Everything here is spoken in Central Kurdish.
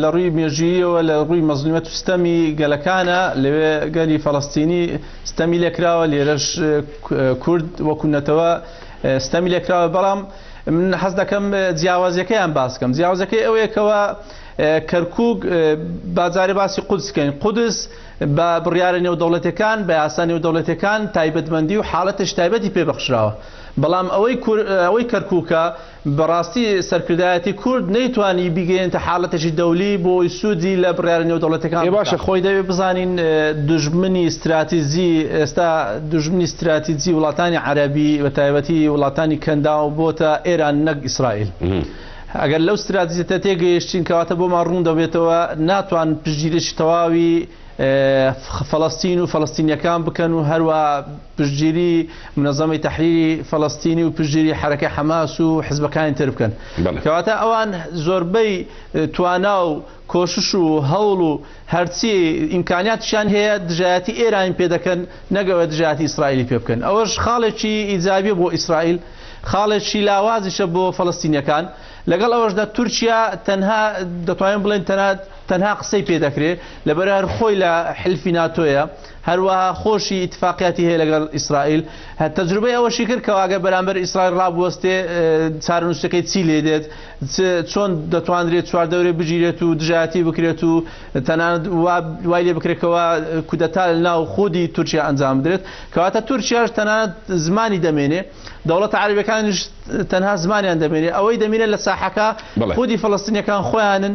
لە ڕووی مێژووییەوە لە ڕووی مەزلومیەت و ستەمی گەلەکانە لەوێ گەلی فەڵەستینی ستەمی لێکراوە لێرەش کورد وەکو نەتەوە ستەمی لێکراوە بەڵام من حەز دەکەم جیاوازەکەیان باسکەم جیاوازەکەی ئەوەیەکەوە کەرکک بازارێ باسی قودسکەین قودس بە بڕیارە نێودەوڵەتەکان بە یاسا نێودەوڵەتەکان تایبەتمەندی و حاڵەتش تایبەتی پێبەخشراوە بەڵام ئەوەی ئەوەی کەرککە بەڕاستی سەرکردایەتی کورد نەیتوانی بیگەیەنێتە حاڵەتێکی دەولی بۆی سوودی لە بڕیارە نێودەوڵەتیەکان بکا. ئێ باشە خۆی دەبێ بزانین دوژمنی ستراتیجی ئێستا دوژمنی ستراتیجی وڵاتانی عەرەبی بە تایبەتی وڵاتانی کەنداو بۆتە ئێران نەک ئیسرائیل. ئەگەر لەو ستراتیجەتە تێگەیشتین کەواتە بۆمان ڕوون دەبێتەوە ناتوان پشتگیریی تەواوی فەڵەستین و فەڵەستینیەکان بکەن و هەروە پشتگیری منەزەمی تحریری فەڵەستینی و پشتگیری حرەکە حەماس و حزبەکانی تر بکەن کەواتە ئەوان زۆربەی توانا و کۆشش و هەوڵ و هەرچی ئیمکاناتشان هەیە دژایەتی ئێران پێ دەکەن نەگەوە دژاتی ئیسرائیلی پێ بکەن ئەوەش خاڵێکی ئیجابی بۆ ئیسرائیل خاڵێکی لاوازیشە بۆ فەڵستینەکان لەگەڵ ئەوەشدا تورکیا تەنها دەتوانین بڵێن تەنات تەنها قسەی پێ دەکرێ لەبەر هەر خۆی لە حلفی ناتۆیە هەروەها خۆشی اتفاقیاتی هەیە لەگەڵ ئیسرائیل تەجروبەی ئەوەشی کرد کەواگە بەرامبەر ئیسرائیل ڕابوەستێ چارنووسەکەی چی لێ دێت چۆن دەتوانرێت چواردەورێ بگیرێت و دژایەتی بکرێت و تەنانەت وای لێ بکرێتەوە کودەتا ناو خودی تورکیا ئەنجام بدرێت کەواتە تورکیاش تەنانەت زمانی دەمێنێ دەوڵەت عربەکانش تەنها زمانیان دەمێنێ ئەوەی دەمێنێت لە ساحەکە خودی فلستینەکان خۆیانن